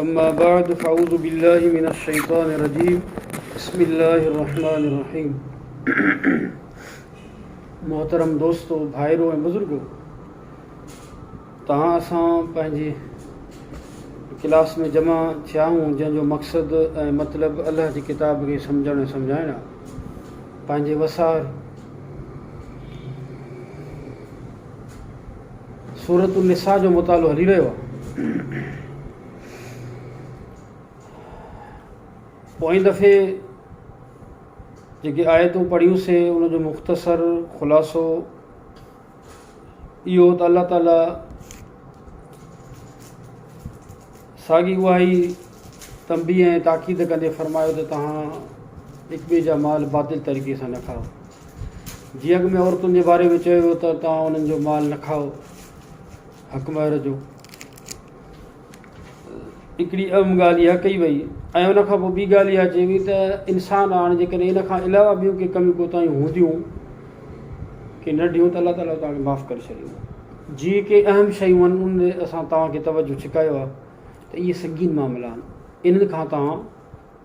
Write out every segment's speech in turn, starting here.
اما بعد فاعوذ بالله من الشيطان الرجيم بسم الله الرحمن الرحيم محترم دوستو ڀائرو ۽ بزرگو تهان اسان پنهنجي ڪلاس ۾ جمع ٿيا آهيون جنهن جو مقصد ۽ مطلب الله جي ڪتاب کي سمجهڻ ۽ سمجهائڻ آهي پنهنجي وسار سورة النساء جو مطالعو هلي رهيو آهي. پوئين دفعي جيڪي آيتون پڙهيون سي ان جو مختصر خلاصو اهو ته الله تعاليٰ ساڳي اها ئي تنبيه ۽ تاڪيد ڪندي فرمايو ته تهان هڪ ٻئي جا مال باطل طريقي سان نه کائو جي اڳ ۾ عورتن جي باري ۾ چيو ويو ته توهان انهن جو مال نه کائو، حق مهر جو هڪڙي اهم ڳالهه اها ڪئي وئي ۽ ان کان پوء ٻي ڳالهه اها چئي وئي ته انسان هاڻي جيڪڏهن ان کان علاوه ٻيون ڪي ڪميون ڪوتاهيون هونديون ڪي ننڍيون ته الله تعاليٰ توهان کي معاف ڪري ڇڏيندو جي ڪي اهم شيون آهن ان ۾ اسان توهان کي توجه ڇڪايو آهي ته اهي سنگين معاملا آهن انهن کان توهان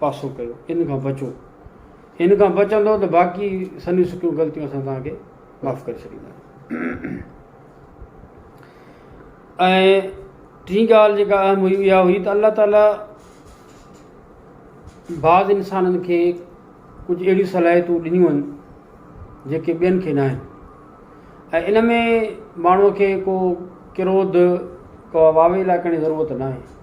پاسو ڪيو انهن کان بچو ان کان بچندؤ ته باقي سنهيون سڪيون غلطيون اسان توهان کي معاف ڪري ڇڏينداسين. ۽ ٽين ڳالهه جيڪا اهم هئي اها هئي ته الله تعاليٰ بعض انسانن کي ڪجهه اهڙيون صلاحيتون ڏنيون آهن جيڪي ٻين کي ناهن ۽ ان ۾ ماڻهوء کي ڪو ڪروڌ ڪا واويلا ڪرڻ جي ضرورت ناهي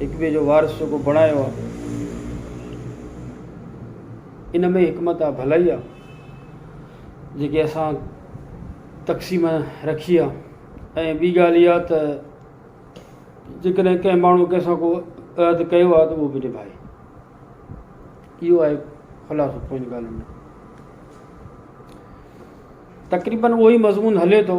هڪ ٻئي جو وارث جيڪو بڻايو آ ان ۾ حڪمت آ ڀلائي آ جيڪي اسان تقسيم رکي آ ۽ ٻي ڳالهه اها ته جيڪڏهن ڪنهن ماڻهو ڪنهن سان ڪو عهد ڪيو آ ته اهو به نڀائي اهو آهي خلاصو پنهنجي ڳالهين جو تقريبن اهو ئي مضمون هلي ٿو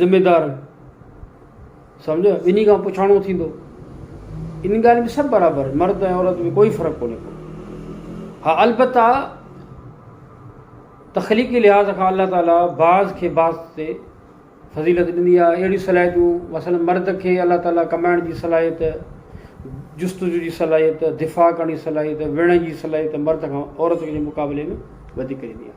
ذميدار سمجهه ٻنهي کان پڇاڻو ٿيندو ان ڳالهه ۾ سڀ برابر آهن مرد ۽ عورت ۾ ڪوئي فرق ڪونهي ڪو ها البته تخليقي لحاظ کان الله تعاليٰ بعض کي بعض تي فضيلت ڏني آهي اهڙيون صلاحيتون مثلا مرد کي الله تعاليٰ ڪمائڻ جي صلاحيت جستجو جي صلاحيت دفاع ڪرڻ جي صلاحيت وڙهڻ جي صلاحيت مرد کان عورت جي مقابلي ۾ وڌيڪ ڏني آهي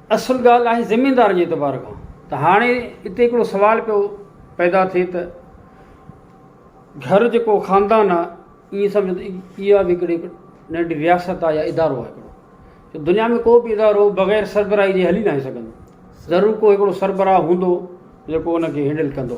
اصل ڳالهه آهي زميندارن جي اعتبار کان ته هاڻي اتي هڪڙو سوال پيو پيدا ٿئي ته گهر جيڪو خاندان آهي ايئن سمجهو ته اها به هڪڙي ننڍي رياست آهي يا ادارو آهي هڪڙو دنيا ۾ ڪو به ادارو بغير سربراهي جي هلي ناهي سگهندو ضرور ڪو هڪڙو سربراهه هوندو جيڪو ان کي هينڊل ڪندو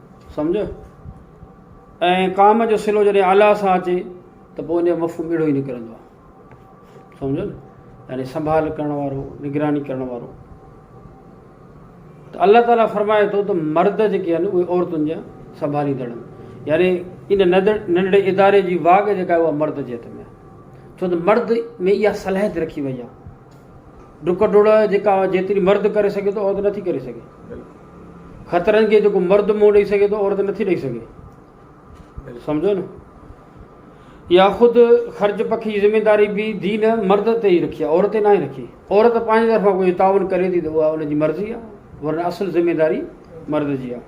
سمجهه؟ ۽ ڪام جو صلو جڏهن اعليٰ سان اچي ته پوء ان جو مفهوم اهڙو ئي نڪرندو آهي. سمجهيو نه؟ يعني سنڀال ڪرڻ وارو، نگراني ڪرڻ وارو. ته الله تعاليٰ فرمائي ٿو ته مرد جيڪي آهن اهي عورتن جا سنڀاليندڙ آهن. يعني ان ننڍڙي اداري جي واڳ جيڪا آهي اها مرد جي هٿ ۾ آهي. ڇو ته مرد ۾ اها صلاحيت رکي وئي آهي. ڊڪ ڊوڙ جيڪا جيتري مرد ڪري سگهي ٿو عورت نٿي ڪري سگهي خطرن کي جيڪو مرد منهن ڏئي سگهي ٿو عورت نٿي ڏئي سگهي سمجھو ن يا خود خرچ پکي جي ذميداري به دين مرد تي ئي رکي عورت تي ناهي رکي عورت پنهنجي طرفان ڪجهه تعاون ڪري ٿي ته اها ان جي مرضي آهي ورنه اصل ذميداري مرد جي آهي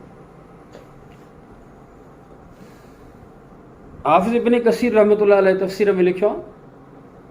حافظ ابن ڪثير رحمت الله علیه تفسير ۾ لکيو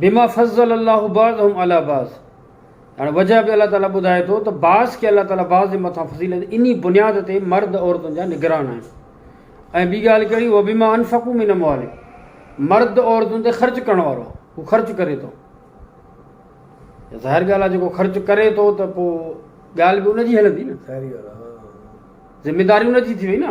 بما فضل الله بعضهم علي بعض هاڻي وجه به الله تعالي ٻڌائي ٿو ته بعض کي الله تعالي بعض جي مٿان فضيلت انهي بنياد تي مرد عورتن جا نگران آهن ۽ ٻي ڳالهه ڪهڙي وبما انفقوا من اموالهم مرد عورتن تي خرچ ڪرڻ وارو آهي هو خرچ ڪري ٿو ظاهر ڳالهه آهي جيڪو خرچ ڪري ٿو ته پوء ڳالهه به ان جي هلندي نه ذميداري ان جي ٿي وئي نه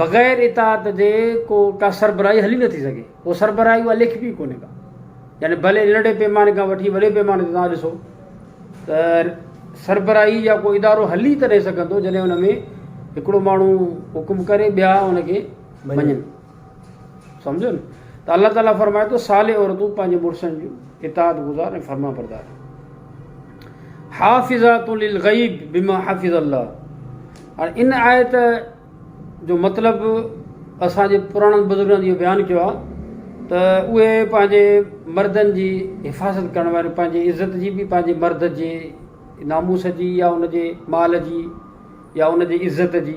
بغير اطاعت جي ڪو ڪا سربراهي هلي نٿي سگهي. ڪو سربراهي اها ليکبي ئي ڪونهي ڪا. يعني بلي ننڍي پيماني کان وٺي وڏي پيماني تي توهان ڏسو ته سربراهي يا ڪو ادارو هلي تڏهن سگهندو جڏهن ان ۾ هڪڙو ماڻهو حڪم ڪري ٻيا ان کي مڃن. سمجهيو نه ته الله تعالي فرمائي ٿو صالح عورتون پنهنجي مڙسن جون اطاعت گذار ۽ فرما بردار حافظات للغيب بما حافظ الله هاڻي ان آيت جو مطلب اسان جي پراڻن بزرگن جو بيان ڪيو آ ته اهي پنهنجي مردن جي حفاظت ڪرڻ واري پنهنجي عزت جي به پنهنجي مرد جي ناموس جي يا ان جي مال جي يا ان جي عزت جي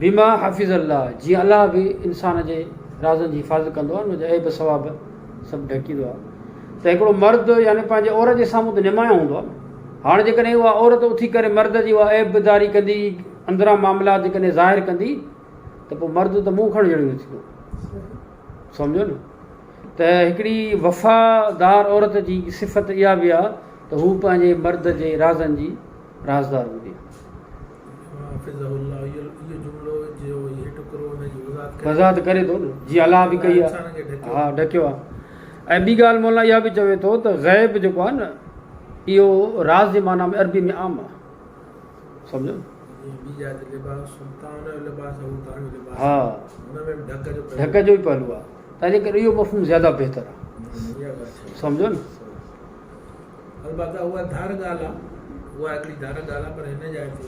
بما حفظ الله، جيئن الله به انسان جي رازن جي حفاظت ڪندو آهي، ان جا عيب ثواب سڀ ڍڪيندو آهي، ته هڪڙو مرد يعني پنهنجي عورت جي سامهون ته نمايان هوندو آهي، هاڻ جيڪڏهن اها عورت اٿي ڪري مرد جي اها عيب داري ڪندي، اندران معاملات جيڪڏهن ظاهر ڪندي، ته پوء مرد ته منهن کڻڻ جهڙو نه ٿيندو. سمجهيو نه؟ ته هڪڙي وفادار عورت جي صفت اها به آهي ته هو پنهنجي مرد جي رازن جي رازدار هوندي آهي. وضاحت ڪري ٿو نه جي الله به ڪئي آهي ها ڍڪيو آهي ۽ ٻي ڳالهه مولانا اها به چوي ٿو ته غيب جيڪو آهي نه اهو راز جي معنيٰ ۾ عربي ۾ عام آهي سمجهيو ها ڍڪ جو ئي پهلو آهي تنهنجي ڪري اهو مفهوم زياده بهتر آهي سمجهيو نه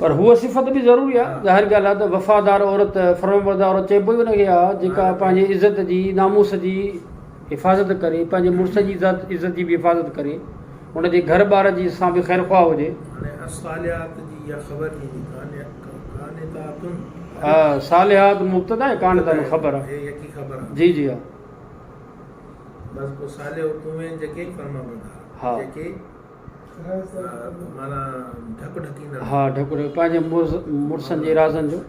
پر هوء صفت به ضروري آهي. ظاهر ڳالهه آهي ته وفادار عورت، فرمانبردار عورت چئبو ئي ان کي آهي، جيڪا پنهنجي عزت جي، ناموس جي حفاظت ڪري، پنهنجي مڙس جي عزت جي به حفاظت ڪري، ان جي گهر ٻار جي سان به خيرخواهه هجي. بس پوء صالح تون ۽ جيڪي ئي فرمان بردار ها جيڪي مانا ڍڪ ڍڪيندڙ ها ڍڪ ڍڪ پنهنجي مرسن جي رازن جو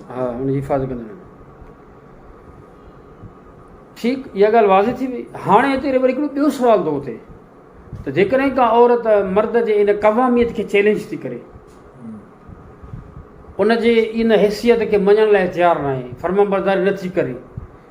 ها ان جي حفاظت ڪندڙ ٺيڪ اها ڳالهه واضح ٿي وئي هاڻي هتي وري هڪڙو ٻيو سوال ٿو اٿي ته جيڪڏهن ڪا عورت مرد جي ان قواميت کي چيلنج ٿي ڪري ان جي ان حيثيت کي مڃڻ لاء تيار ناهي فرمان برداري نٿي ڪري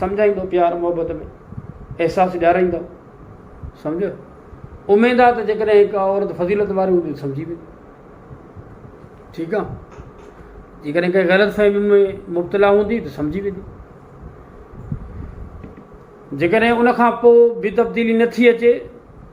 سمجهائيندو پيار محبت ۾ احساس ڏيارائيندو سمجهه اميد آ ته جيڪڏهن هڪ عورت فضيلت واري هوندي سمجهي ويندي ٺيڪ آ جيڪڏهن ڪنهن غلط فهمي ۾ مبتلا هوندي ته سمجهي ويندي جيڪڏهن ان کان پوء به تبديلي نٿي اچي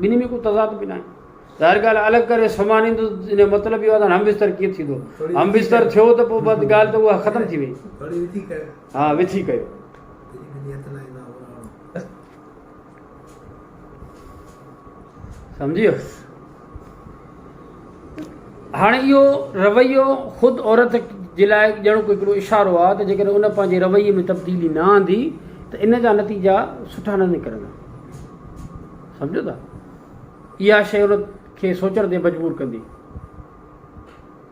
ٻنهي ۾ ڪو تضاد به ناهي. ظاهر ڳالهه آهي الڳ ڪري سمهاريندس ان جو مطلب اهو آهي ته هاڻي همبستر ڪيئن ٿيندو؟ همبستر ٿيو ته پوء بس ڳالهه ته اها ختم ٿي وئي. ها وٿي ڪيو. سمجهي ويس. هاڻي اهو رويو خود عورت جي لاء ڄڻڪ هڪڙو اشارو آهي ته جيڪڏهن ان پنهنجي رويي ۾ تبديلي نه آندي ته ان جا نتيجا سٺا نه نڪرندا سمجهو ٿا اها شيء ان کي سوچڻ تي مجبور ڪندي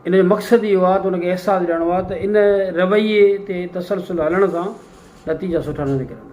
ان جو مقصد اهو آهي ته ان کي احساس ڏيڻو آهي ته ان رويي تي تسلسل هلڻ سان نتيجا سٺا نه نڪرندا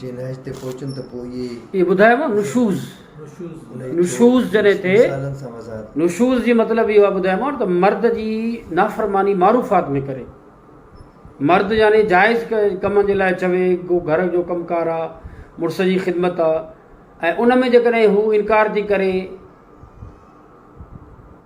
جي نهج تي پهچن ته پوء اهي. اهي ٻڌايو مان نشوز نشوز جڏهن ٿئي نشوز جي مطلب اهو آهي ٻڌايو مان ته مرد جي نافرماني معروفات ۾ ڪري مرد يعني جائز ڪم جي لاء چوي ڪو گهر جو ڪم ڪار آهي مڙس جي خدمت آهي ۽ ان ۾ جيڪڏهن هو انڪار ٿي ڪري.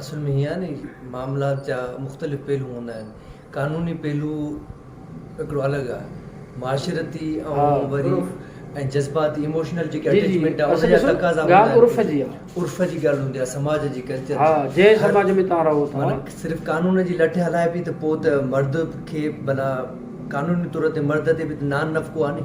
اصل ۾ ائين آهي ني معاملات جا مختلف پهلو هوندا آهن قانوني پهلو هڪڙو الڳ آهي معاشرتي ۽ وري ۽ جذباتي Emotional جيڪي Attachment آهي ان جا تقاضا هوندا آهن عرف جي آهي عرف جي ڳالهه هوندي آهي سماج جي Culture جي ها جنهن سماج ۾ توهان رهو ٿا معنيٰ صرف قانون جي لٺ هلائبي ته پوء ته مرد کي ڀلا قانوني طور تي مرد تي به ته نان نفقو آهي ني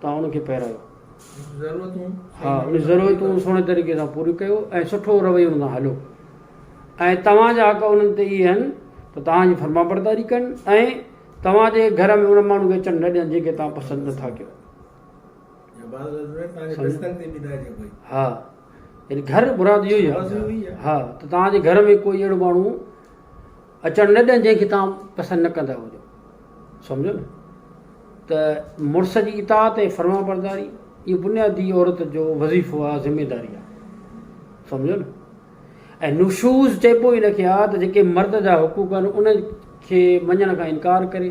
تان ان کي پهرايو. ها ان ضرورتون سهڻي طريقي سان پوريون ڪيو ۽ سٺو رويو ان سان هليو ۽ توهان جا حق انهن تي اهي آهن ته توهان جي فرمانبرداري ڪن ۽ توهان جي گهر ۾ ان ماڻهو کي اچڻ نه ڏين جنهن کي توهان پسند نٿا ڪيو. ها يعني گهر مراد اهو ئي آهي ها ته توهان جي گهر ۾ ڪوئي اهڙو ماڻهو اچڻ نه ڏين جنهن کي توهان پسند نه ڪندا هجو. سمجهيو نه؟ ته مڙس جي اطاعت ۽ فرمانبرداري اهو بنيادي عورت جو وظيفو آ، ذميداري آ. سمجهيو نه؟ ۽ نشوز چئبو ئي ان کي آ ته جيڪي مرد جا حقوق آهن انهن کي مڃڻ کان انڪار ڪري.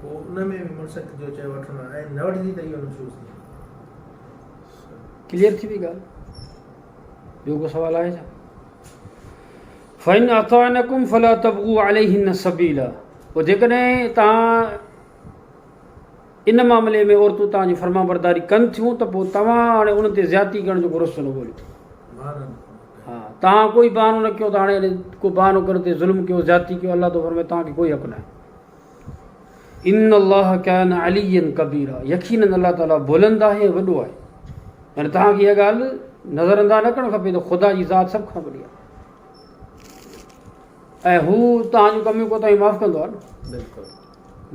پوء ان ۾ به منسڪ جو چيو وٺڻو آهي ۽ نه وٺجي ته اهو نشوز ٿئي. ڪليئر ٿي وئي ڳالهه ٻيو ڪو سوال آهي ڇا فإن أطعنكم فلا تبغوا عليهن سبيلا پوء جيڪڏهن توهان ان معاملي ۾ عورتون توهان جي فرما برداري ڪن ٿيون ته پوء توهان هاڻي ان تي زيادتي ڪرڻ جو رستو نه ڳوليو ها توهان ڪوئي بهانو نه ڪيو ته هاڻي ڪو بهانو ڪرڻ تي ظلم ڪيو زيادتي ڪيو الله تو فرمائي توهان کي ڪوئي حق نه آهي ان الله ڪان عليا ڪبيرا يقينن الله تعالي بلند آهي ۽ وڏو آهي يعني توهان کي اها ڳالهه نظر انداز نه ڪرڻ کپي ته خدا جي ذات سڀ کان وڏي آهي ۽ هو توهان جون ڪميون ڪوتاهيون معاف ڪندو آهي نه بلڪل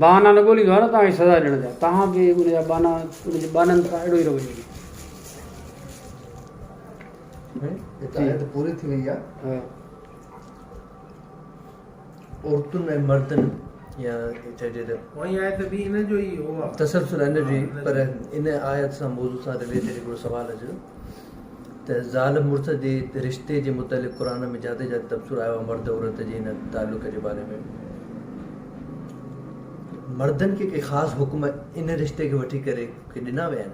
بهانا نه ڳوليندو آهي نه توهان کي سزا ڏيڻ جا توهان به ان جا بهانا ان جي بهانن سان اهڙو ئي رويو ڪيو پوري ٿي وئي آهي عورتن ۽ مردن يا چئجي ته تسلسل ان جو ئي پر ان آيت سان موضوع سان رليٽيڊ هڪڙو سوال اچي ٿو ته زال مڙس جي رشتي جي متعلق قرآن ۾ جاتي جاتي تبصرو آيو آهي مرد عورت جي ان تعلق جي باري ۾ مردن کي ڪي خاص حڪم ان رشتي کي وٺي ڪري ڪي ڏنا ويا آهن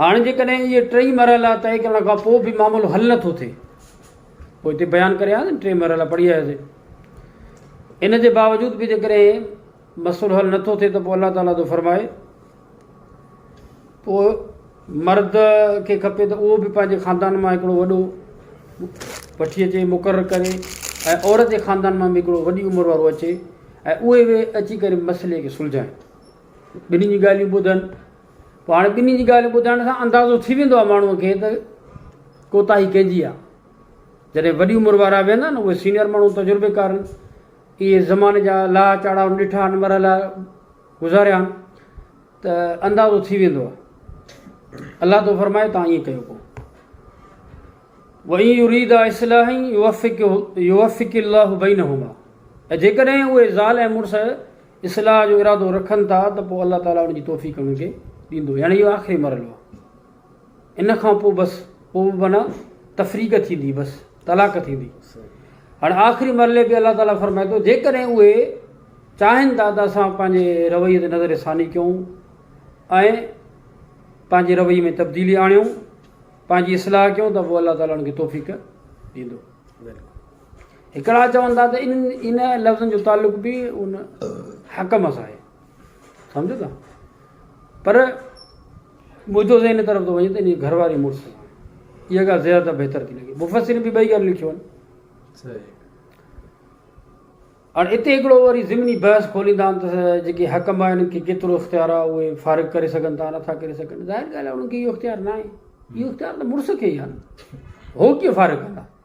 هاڻ جيڪڏهن اهي ٽئي مرحلا طئي ڪرڻ کان پوء به معاملو حل نه ٿو ٿئي پوء هتي بيان ڪري آياسين ٽئي مرحلا پڙهي آياسين ان جي باوجود به جيڪڏهن مسئلو حل نٿو ٿئي ته پوء الله تعالیٰ ٿو فرمائي پوء مرد کي کپي ته اهو به پنهنجي خاندان مان هڪڙو وڏو وٺي اچي مقرر ڪري ۽ عورت جي خاندان مان به هڪڙو وڏي عمر وارو اچي ۽ اهي به اچي ڪري مسئلي کي سلجھائين ٻنهي جي ڳالهيون ٻڌن پوء هاڻي ٻنهي جي ڳالهيون ٻڌائڻ سان اندازو ٿي ويندو آهي ماڻهوء کي ته ڪوتاهي ڪنهن جي آهي. جڏهن وڏي عمر وارا ويهندا آهن نه اهي سينيئر ماڻهو تجربيڪارن اهي زماني جا لاها چاڙها ڏٺا آهن مرحلا گذاريا آهن ته اندازو ٿي ويندو آهي. الله ٿو فرمائي توهان ائين ڪيو پوء وئي يريد اصلاح يوفق يوفق الله بينهما ۽ جيڪڏهن اهي زال ۽ مڙس اصلاح جو ارادو رکن ٿا ته پوء الله تعاليٰ ان جي توفيق انهن کي ڏيندو يعني اهو آخري مرحلو آهي ان کان پوء بس پوء به معنيٰ تفريق ٿيندي بس طلاق ٿيندي هاڻي آخري مرحلي به الله تعاليٰ فرمائي ٿو جيڪڏهن اهي چاهين ٿا ته اسان پنهنجي رويي تي نظر ثاني ڪيون ۽ پنهنجي رويي ۾ تبديلي آڻيون پنهنجي اصلاح ڪيون ته پوء الله تعاليٰ ان کي توفيق ڏيندو هڪڙا چون ٿا ته ان لفظن جو تعلق به ان حڪم سان آهي سمجهو ٿا پر منهنجو ذهن ان طرف ٿو وڃي ته ان جي گهر واري مڙس سان اها ڳالهه زيادت بهتر ٿي لڳي مفسرين به ٻئي ڳالهيون لکيون آهن هاڻي اتي هڪڙو وري ضمني بحث کوليندا آهن ته جيڪي حڪم آهن کي ڪيترو اختيار آهي اهي فارغ ڪري سگهن ٿا نٿا ڪري سگهن ظاهر ڳالهه آهي انهن کي اهو اختيار ناهي اهو اختيار ته مڙس کي ئي آهي هو ڪيئن فارغ ڪندا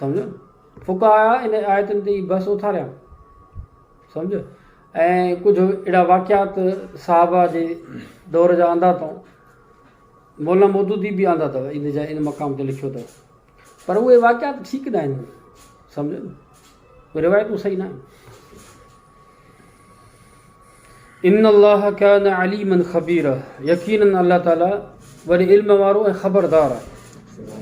سمجهيو نه؟ فقهاء ان آيتن تي ئي بحث اٿاريا. سمجهيو؟ ۽ ڪجهه اهڙا واقعات صحابه جي دور جا آندا اٿئون. مولانا مودودي به آندا اٿو ان جا ان مقام تي لکيو اٿو. پر اهي واقعات ٺيڪ ناهن. سمجهيو نه؟ اهي روايتون صحيح ناهن. ان الله ڪان عليما خبيرا يقينن الله تعالي وڏي علم وارو ۽ خبردار آهي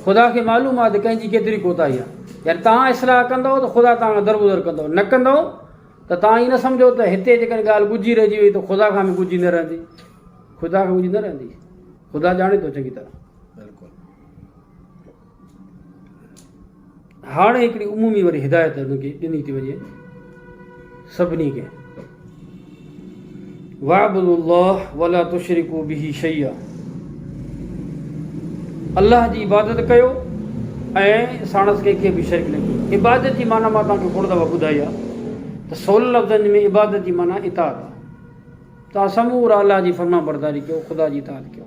خدا کي معلوم آهي ته ڪنهن جي ڪيتري ڪوتاهي آهي يعني تان اصلاح ڪندو ته خدا تان درگذر ڪندو نه ڪندو ته تان هي نه سمجهو ته هتي جيڪڏهن ڳالهه ڳجهي رهجي وئي ته خدا کان به ڳجهي نه رهندي خدا کان ڳجهي نه رهندي خدا ڄاڻي ٿو چڱي طرح هاڻي هڪڙي عمومي وري هدايت هن کي ڏني ٿي وڃي سڀني کي وعبد الله ولا تشرڪو به شيئا الله جي عبادت ڪيو ۽ ساڻس ڪنهن کي به شرڪ نه ڪيو عبادت جي معنی مان تان کي کوڙ دفعا ٻڌائي آ ته سول لفظن ۾ عبادت جي معنی اطاعت آ تان سمورا الله جي فرمان برداري ڪيو خدا جي اطاعت ڪيو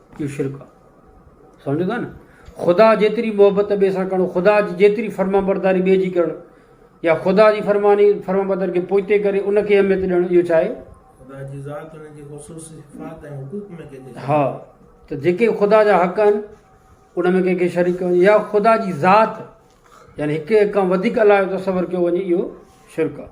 اهو شرڪ آهي سمجهو ٿا نه خدا جيتري محبت ٻئي سان ڪرڻ خدا جي جيتري فرمانبرداري ٻئي جي ڪرڻ يا خدا جي فرماني فرمانبرداري کي پوئتي ڪري ان کي اهميت ڏيڻ اهو ڇا آهي خدا جي ذات ان جي خصوصي صفات ۽ حقوق ۾ ڪنهن کي ها ته جيڪي خدا جا حق آهن ان ۾ ڪنهن کي شريڪ ڪرڻ يا خدا جي ذات يعني هڪ کان وڌيڪ الاهي جو تصور ڪيو وڃي اهو شرڪ آهي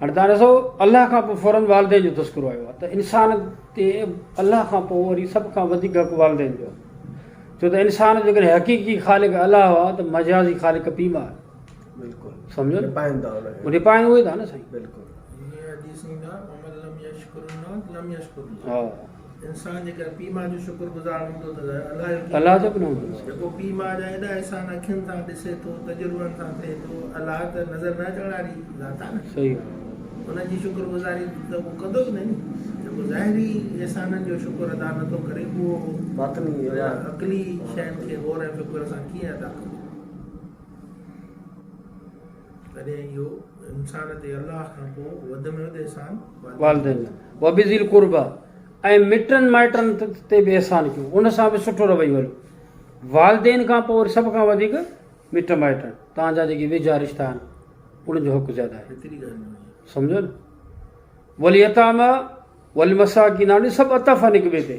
هاڻي توهان ڏسو الله کان پوء فوراً والدين جو تذڪرو آيو آهي ته انسان تي الله کان پوء وري سڀ کان وڌيڪ حق والدين جو آهي ڇو ته انسان جيڪڏهن حقيقي خالق الله هئا ته مجازي خالق پيء ماء بلڪل سمجهو رپائن ٿا رپائن اهي ٿا نه سائين بلڪل انسان جيڪڏهن پيء ماء جو شڪر گذار هوندو ته الله جو ڪيئن نه هوندو. جيڪو پيء ماء جا ايڏا احسان اکين سان ڏسي ٿو، تجربن سان ٿئي ٿو، الله ته نظر نه اچڻ واري ذات آهي نه. ان جي شڪر گذاري ته اهو ڪندو ئي نه ني. جيڪو ظاهري احسانن جو شڪر ادا نه ٿو ڪري پوء اهو باطني يا عقلي شين کي غور ۽ فڪر سان ڪيئن ادا ڪندو. تڏهن اهو انسان تي الله کان پوء وڌ ۾ وڌ احسان والدين وبذي القربه ۽ مٽن مائٽن تي به احسان ڪيو ان سان به سٺو رويو هليو والدين کان پوء وري سڀ کان وڌيڪ مٽ مائٽ توهان جا جيڪي ويجها رشتا آهن انهن جو حق زياده آهي سمجھو نه وليتاما ولمساڪين سڀ اتف آهن هڪ ٻئي تي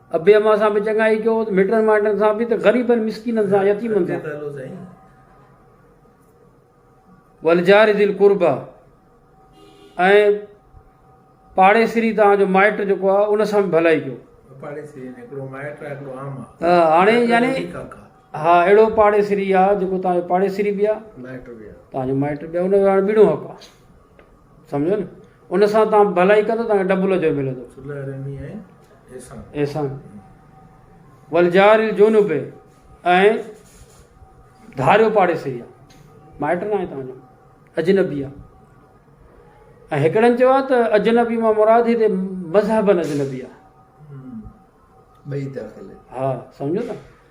ابي امان سان به چڱائي ڪيو ته مٽن مائٽن سان به ته غريبن مسڪينن سان يتيمن سان ولجار ذل قربا ۽ پاڙيسري تان جو مائٽ جو ڪو ان سان به ڀلائي ڪيو پاڙيسري نه ڪرو مائٽ آ ڪرو عام آ هاڻي يعني ها اڙو پاڙيسري آ جو ڪو تان جو پاڙيسري بيا مائٽ بيا تان جو مائٽ بيا ان جو هاڻي ٻيڻو حق آ سمجهيو نه ان سان تان ڀلائي ڪندو تان ڊبل اجر ملندو صلح رحمي ۽ احسان احسان والجار الجنوب ۽ ڌاريو پاڙي سي مائٽ نه آهي تان اجنبي آ ۽ هڪڙن چيو آ ته اجنبي مان مراد هي ته مذهبن اجنبي آ ٻئي داخل ها سمجهو ته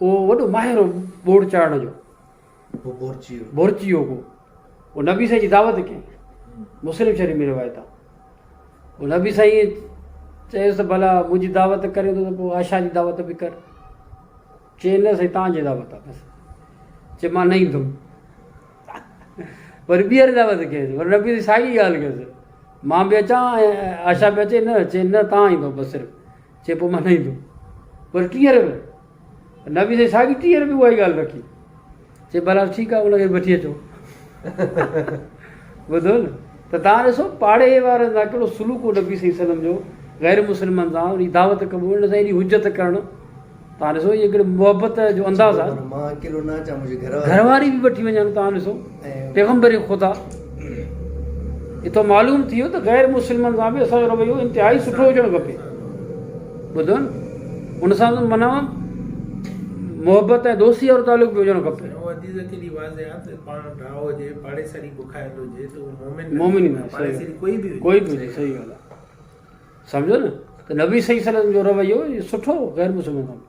اهو وڏو ماهر هو ٻوڙ چاڙهڻ جو. بورچي هو ڪو. هو نبي سائين جي دعوت ڪئي. مسلم شريف ۾ روايت آ. هو نبي سائين چيس ته ڀلا منهنجي دعوت ڪرين ٿو ته پوء عائشه جي دعوت به ڪر. چي نه سائين توهان جي دعوت آ بس. چي مان نه ايندم. وري ٻيهر دعوت ڪيس. وري نبي سائين ساڳي ڳالهه ڪيس. مان به اچان ۽ عائشه به اچي نه. چي نه توهان ايندو بس صرف. چي پوء مان نه ايندو. وري ٽيهه رپيا به. نبي سائين ساڳي ٽيهه رپيا اها ئي ڳالهه رکي. چي بهرحال ٺيڪ آهي ان کي به وٺي اچو. ٻڌو نه ته تان ڏسو پاڙي وارن سان ڪهڙو سلوڪ هو نبي صلي وسلم جو غير مسلمن سان انهي دعوت قبول ان سان ايڏي حجت ڪرڻ تان ڏسو هي ڪهڙي محبت جو انداز آ گهرواري به وٺي وڃن تان ڏسو پيغمبر خدا اتو معلوم ٿي ويو ته غير مسلمن سان به اسان جو رويو انتهائي سٺو هجڻ کپي ٻڌو نه ان سان به منا محبت ۽ دوستي وارو تعلق به هجڻ کپي مومن ۾ صحيح ڳالهه سمجهو نه ته نبي صلي الله عليه وسلم جو رويو سٺو غير مسلمان سان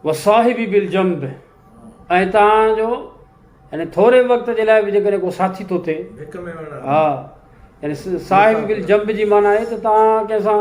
وصاحبي بالجنب ۽ تان جو يعني ٿوري وقت جي لاء به جيڪڏهن ڪو ساٿي ٿو ٿئي ها يعني صاحب بالجنب جي معنی آهي ته تان ڪنهن سان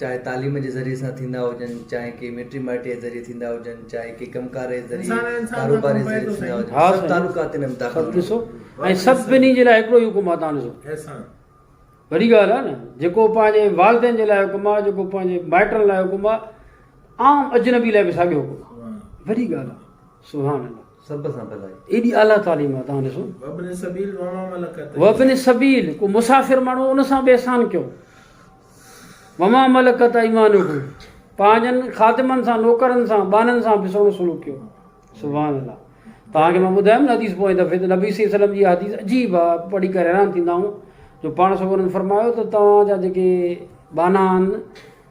چاهي تعليم جي ذريعي سان ٿيندا هجن چاهي ڪي مٽي مائٽي جي ذريعي ٿيندا هجن چاهي ڪي ڪم ڪار جي ذريعي ڪاروبار جي ذريعي ٿيندا هجن سڀ تعلقا تن ۾ داخل ٿيندا ڏسو ۽ سڀني جي لاء هڪڙو ئي حڪم آهي تان ڏسو احسان وڏي ڳالهه آهي نه جيڪو پنهنجي والدين جي لاء حڪم آهي جيڪو پنهنجي مائٽن لاء حڪم آهي عام اجنبي لاء به ساڳيو حڪم آهي وڏي ڳالهه آهي سبحان الله سڀ سان ڀلائي. ايڏي اعليٰ تعليم آهي توهان ڏسو. وابن سبيل وما ملڪت ايمانكم. وابن سبيل ڪو مسافر ماڻهو ان سان به احسان ڪيو. وما ملڪت ايمانڪم پنهنجن خادمن سان نوڪرن سان ٻانهن سان به سهڻو سلوڪ ڪيو. سبحان الله توهان کي مان ٻڌايم نه حديث پوئين دفعي ته نبي صلي الله عليه وسلم جي اها حديث عجيب آهي پڙهي ڪري حيران ٿيندا آهون جو پاڻ سگهو انهن فرمايو ته توهان جا جيڪي ٻانها آهن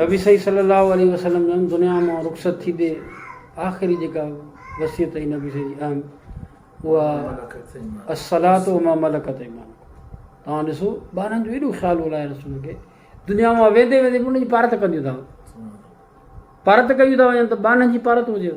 نبي صحيح صلي الله عليه وسلم جن دنيا مان رخصت ٿيندي آخري جيڪا وصيت ۽ نبي صحيح جي اهم اها الصلات و ما ملڪت ايمان توهان ڏسو ٻارن جو ايڏو خيال هو لاء رسول کي دنيا مان ويندي ويندي ان جي پارت ڪنديون ٿا پارت ڪيون ٿا وڃن ته ٻانهن جي پارت هجيو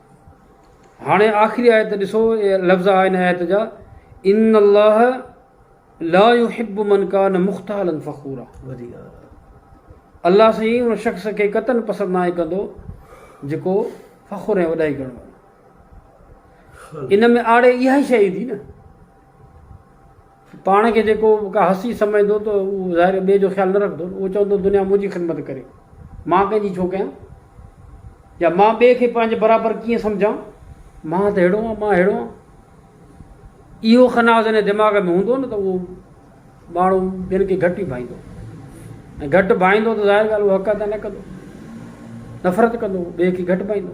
هاڻي آخري آيت ڏسو اهي لفظ آ ان آيت جا ان الله لا يحب من کان مختالا فخورا الله سائين ان شخص کي قطن پسند ناهي ڪندو جيڪو فخر ۽ وڏائي ڪرڻ وارو ان ۾ آڙي اها ئي شيء ايندي نه پاڻ کي جيڪو ڪا هستي سمجهندو ته هو ظاهر ٻئي جو خيال نه رکندو، اهو چوندو دنيا منهنجي خدمت ڪري، مان ڪنهن جي ڇو ڪيان؟ يا مان ٻئي کي پنهنجي برابر ڪيئن سمجهان؟ مان ته ههڙو آهيان، مان ههڙو آهيان. اهو خنا جڏهن دماغ ۾ هوندو نه ته اهو ماڻهو ٻين کي گهٽ ئي ڀائيندو ۽ گهٽ ڀائيندو ته ظاهر ڳالهه اهو حق ادا نه ڪندو، نفرت ڪندو، ٻئي کي گهٽ ڀائيندو.